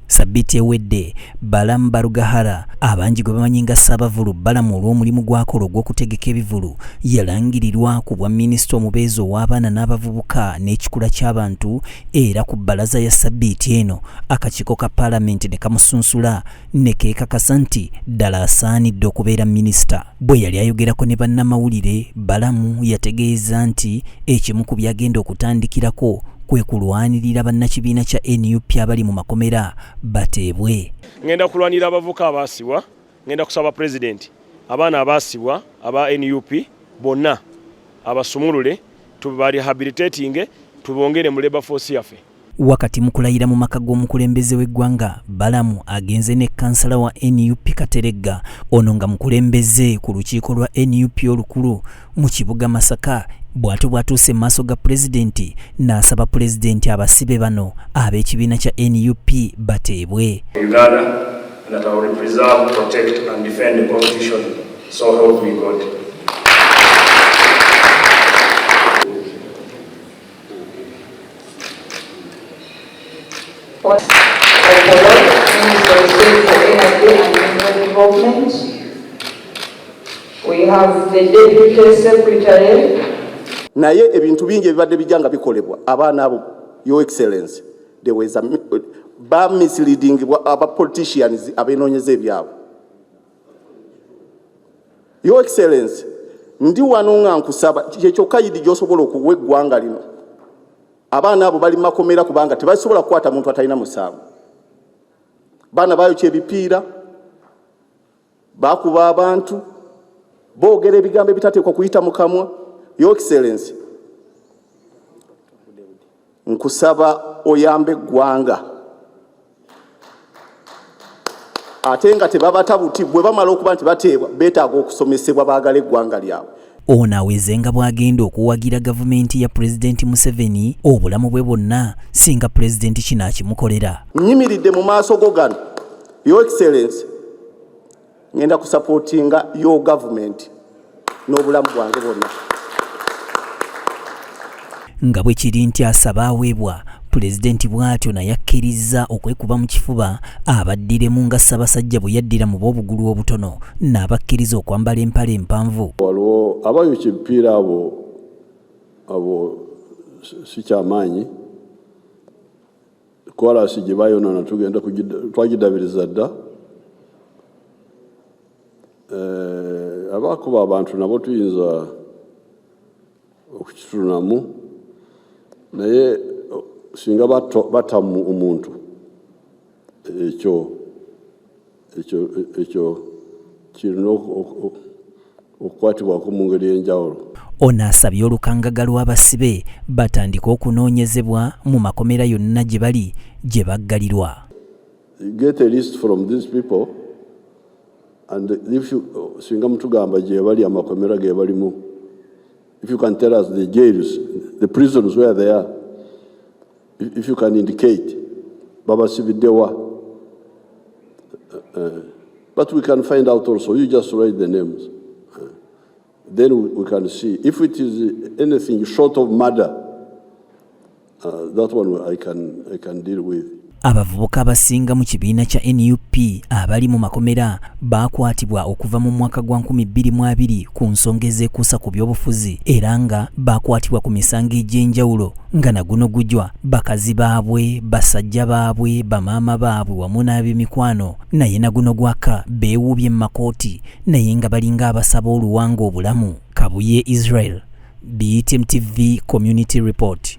Sabiti ewedde, Balaam Barugahara abangi gwe bamanyi nga Ssaabavulu Balaam olw'omulimu gw'akola ogw'okutegeka ebivulu yalangirirwa ku bwa minisita omubeezi ow'abaana n'abavubuka n'ekikula ky'abantu era ku bbalaza ya sabbiiti eno akakiiko ka palamenti ne kamusunsula ne keekakasa nti ddala asaanidde okubeera minisita. Bwe yali ayogerako ne bannamawulire, Balamu yategeeza nti ekimu ku byagenda okutandikirako kwe kulwanirira bannakibiina kya nup abali mu makomera bateebwe. Ngenda kulwanirira abavuka abaasibwa, ngenda kusaba pulezidenti abaana abaasibwa aba nup bonna abasumulule, tubarehabilitatinge, tubongere mu labour force yaffe. Wakati mu kulayira mu maka g'omukulembeze w'eggwanga, Balamu agenze ne kansala wa nup Kateregga, ono nga mukulembeze ku lukiiko lwa nup olukulu mu kibuga Masaka bw'atyo bw'atuuse mu maaso ga pulezidenti n'asaba pulezidenti abasibe bano ab'ekibiina kya nup bateebwe Uganda, naye ebintu bingi ebibadde bijja nga bikolebwa abaana abo your excellency they were ba misleading aba politicians abenoonyeza ebyabwe Your Excellency, ndi wano nga nkusaba kyekyokka yidi gyosobola okuwa eggwanga lino. Abaana abo bali makomera kubanga tebasobola kukwata muntu atalina musango. Baana bayokya ebipiira, bakuba abantu, boogera ebigambo ebitateekwa kuyita mu kamwa. Your Excellency, nkusaba oyambe eggwanga ate nga tebabata buti bwe bamala okuba nti bateebwa beetaaga okusomesebwa baagala eggwanga lyabwe ono aweze nga bw'agenda okuwagira gavumenti ya pulezidenti museveni obulamu bwe bwonna singa pulezidenti kino akimukolera nyimiridde mu maaso go gano your excellency ngenda kusapotinga yo gavumenti n'obulamu bwange bwonna nga bwe kiri nti asaba aweebwa pulezidenti bw'atyo naye akkirizza okwekuba mu kifuba abaddiremu nga ssabasajja bwe yaddira mu b'obugulu obutono n'abakkiriza okwambala empale empanvu waliwo abayokya ebipiira abo abo sikyamaanyi koraasi gye bayonoona tugenda twagidabiriza dda eh, abakuba abantu nabo tuyinza okukitunamu naye singa batamu omuntu ekyo ekyo kirina okukwatibwako mu ngeri y'enjawulo ono asabye olukangaga lw'abasibe batandike okunoonyezebwa mu makomera yonna gye bali gye baggalirwa singa mutugamba gye bali amakomera ge balimu if you can tell us the jails the prisons where they are If you can indicate babasibidewa uh, eh, eh, but we can find out also you just write the names uh, then we, we can see if it is anything short of murder uh, that one I can, I can deal with abavubuka abasinga mu kibiina kya nup abali mu makomera baakwatibwa okuva mu mwaka gwa 2020 ku nsonga ezeekuusa ku byobufuzi era nga baakwatibwa ku misango egy'enjawulo nga naguno gujwa bakazi baabwe basajja baabwe bamaama baabwe wamu n'ab'emikwano naye naguno gwaka beewuubye mu makooti naye nga balinga abasaba oluwanga obulamu kabuye israel btm tv community report